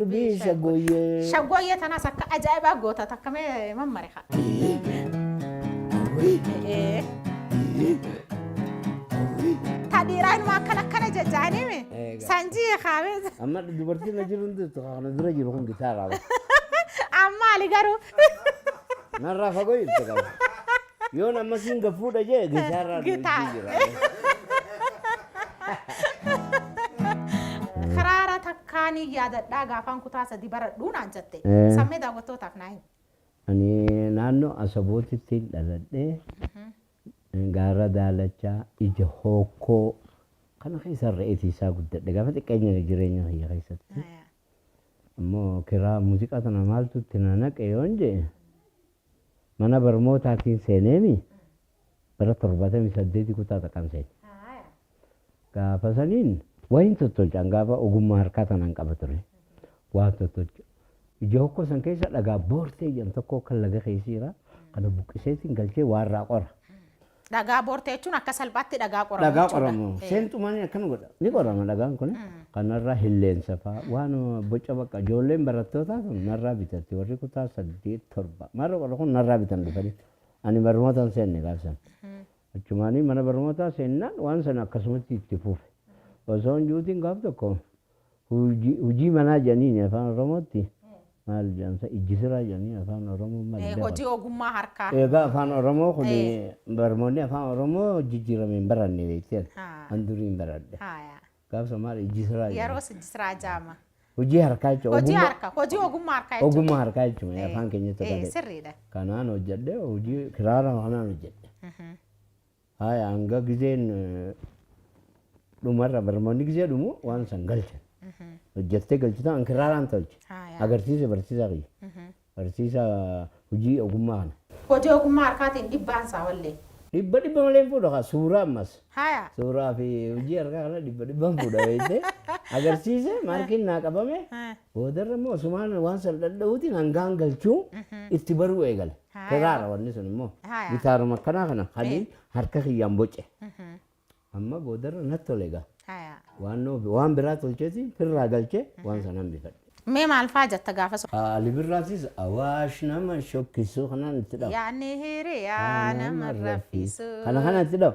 Dubii shaggooyyee. Shaggooyyee tanaas akka ajaa'ibaa goota takka mee mammare haa. Ee. Ta dhiiraa inuma akkana akkana jajjaanii mi? Eega. Sanjii kaamee. Amma dubartiin na jiru hundi kana dura jiru kun gitaa qaba. Ammaali garuu. Narraa fagoo jirti qaba. Yoon amma siin gafuudha jee gitaarraa Gitaa. duuchii jira. Kiraara takkaan hin yaadadhaa gaafaan kutaa sadii baradhuu naan jette. Eh. Sammee daawwattootaaf naa himi. Ani naannoo Asabootitti dhaladhee gaara daalachaa ija hookkoo kana keessa re'eetii isaa guddadhe gaafa xiqqeenya jireenya kiyya keessatti. Ammoo kiraa muuziqaa tana maaltu itti na naqe yoon jee Mana barmootaatiin seeneemi bara torbaatamii saddeetii kutaa taqan seene. Gaafa saniin waa hin tottolchaan gaafa ogummaa harkaa tanaan qaba ture. Waa tottolcha. Ija hokkoo san keessa dhagaa boortee jedhan tokko kan laga keessa jira. Kana buqqiseetiin galchee waa irraa qora. Dhagaa boortee jechuun akka salphaatti dhagaa qoramu dhagaa jechuudha. qoramu Eh. seenxumaan akkana godha ni qorama dhagaan kun kanarraa hilleensa faa waan boca bakka ijoolleen barattootaa kun narraa bitatti warri kutaa saddeet torba marra qorra kun narraa bitan dhufanii ani barnootaan seenne gaafsan achumaanii mana barnootaa seennaan waan sana akkasumatti itti fufe osoo hin juutiin gaaf tokko Hujii manaa jedhaniini afaan oromootti maal jedhamsa ijji siraa jedhanii afaan oromoo maal jedhama? Hojii ogummaa harkaa. Egaa afaan oromoo kun barmoonni afaan oromoo jijjiirame hin baranne beekteen an durii hin baradhe gaafsa maal ijji siraa jedhama? Yeroos ijji siraa jedhama. Hojii harkaa jechuun Hojii ogummaa harkaa hojii ogummaa harkaa jechuudha. ogummaa harkaa jechuun Eh, afaan keenyatti eh, galee sirriidha. kanaan hojjedhe hojii kiraara kanaan hojjedhe Haaya hanga gizeen dhumarra barnoonni gizee dhumu waan san galchan. Hojjettee galchitaa an kirraaraan tolche. Haaya. Agarsiise barsiisaa kiyya. Barsiisaa hojii ogummaa kana. Hojii ogummaa harkaatiin dhibbaan isaa wallee. Dhibba dhibba malee hin fuudha kaa suuraa ammas. Haaya. Suuraa fi hojii harkaa kana dhibba dhibbaan fuudha beektee. Agarsiise maarkiin naa qabame. Eh. Boodarra immoo asumaan waan san dhadha'uutiin hangaan galchuu itti baruu eegale. Haaya. Kiraara wanni sun immoo. Haaya. Gitaaruma akkanaa kana hanii Eh. harka kiyyaan boce. Amma boodarra natti tole egaa. Haaya. Waannoo waan biraa tolcheetiin firraa galchee waan san hambifadhe. Mee maal faa jetta gaafa sun? Ali Birraatis awaash nama shokkisuu kanaan itti dhawa. Yaanni hiriyaa nama raffisu. Kana kana itti dhawa.